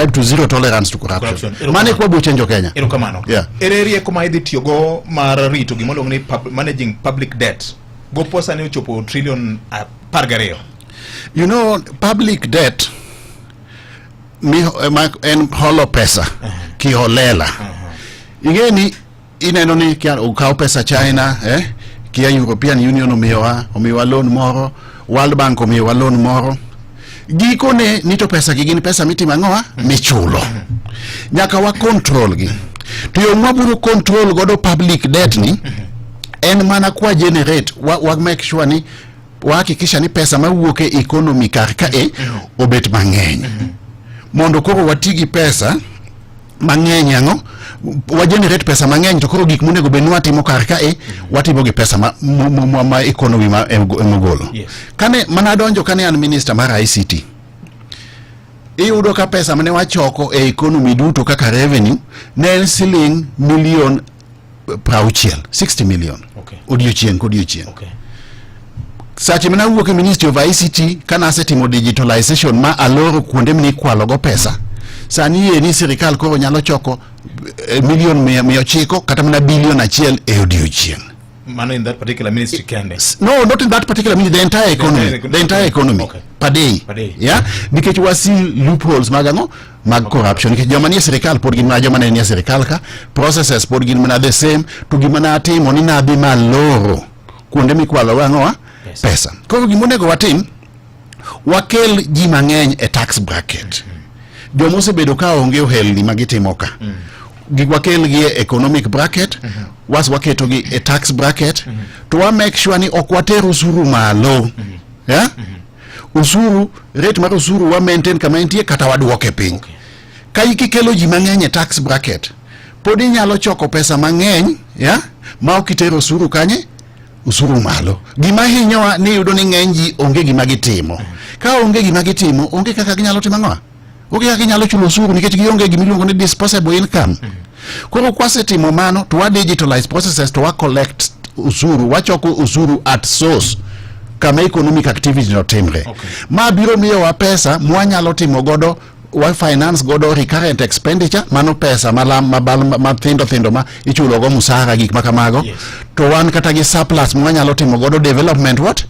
subscribe to zero tolerance to corruption. Mane kwa buche njo Kenya. Ero kamano. Yeah. Ere rieko ma idhi tiyo go mar rito gima iluongo ni pub, managing public debt. Go posa ne ochopo trillion apar gariyo. You know, public debt mi, eh, en holo pesa uh -huh. kiholela uh -huh. ing'e ni Ineno ni kia ukaw pesa China eh? Kia European Union omiyowa omiyowa loan moro, World Bank omiyowa loan moro. Gikone ni to pesa gi gin pesa mitimo ang'owa michulo. Nyaka wa control gi. To yo mwabiro control godo public debt ni en mana kwa generate wa, wa make sure ni wahakikisha ni pesa mawuok e economy kar ka e obet mang'eny mondo koro wati gi pesa mang'eny ang'o wa generate pesa mang'eny to koro gik monego bed ni watimo kar ka e watimo gi pesa ma, ma, ma, ma, ma economy ma em- emogolo Yes. kane mana adonjo kane an minister mar ICT iyudo ka pesa mane wachoko e economy duto kaka revenue ne en siling milion prauchiel 60 million okay. odiochieng' kodiochieng' okay. sache mane awuok e ministry of ICT kana asetimo digitalization ma aloro kuonde mine ikwalogo pesa sani yie ni sirikal koro nyalo choko eh, milion mia ochiko kata mana bilion achiel e odiochieng' Mano in that particular ministry kende. No, not in that particular ministry, the entire economy, the entire economy, the entire economy okay. per day. Per day. Yeah, because we see loopholes magano mag corruption nikech joma nie sirikal pod gin mana joma ne nie sirikal ka processes pod gin mana the same to gima natimo ni nadhi maloro kuonde mikwalogo ang'owa pesa koro gima onego watim wakel ji mang'eny e tax bracket joma osebedo ka onge ohelni ma gitimo ka mm. giwakelgi e economic bracket mm -hmm. was waketogi e tax bracket mm -hmm. to wa make sure ni ok water usuru malo mm -hmm. yeah? mm -hmm. osuru rate mar osuru wa maintain kama entie kata wadwoke piny okay. ka ikikelo ji mang'eny e tax bracket pod inyalo choko pesa mang'eny ya ma ok itero osuru kanye usuru malo gima hinyowa ni yudo ni ng'eny ji onge gima gitimo ka onge gima gitimo onge kaka ginyalo timo ang'owa onge kaka inyalo chulo osuru nikech gionge gima iluongo ni disposable income koro kwasetimo mano to wa digitalize processes to wa collect usuru wachoko usuru at source kama economic activity notimre okay. ma biro miyowa pesa mwanyalo timo godo wa finance godo recurrent expenditure mano pesa malam mabal mathindo thindo ma ichulo go musara gik makamago yes. to wan kata gi surplus mwanyalo timo godo development what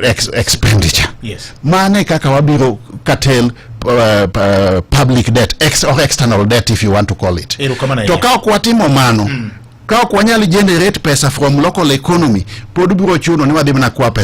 ex expenditure yes. mane kaka wabiro katel uh, uh, public debt ex or external debt if you want to call it to ka ok watimo mano mm. ka ok wanyal generate pesa from local economy pod biro chuno ni wadhi mana kwa pesa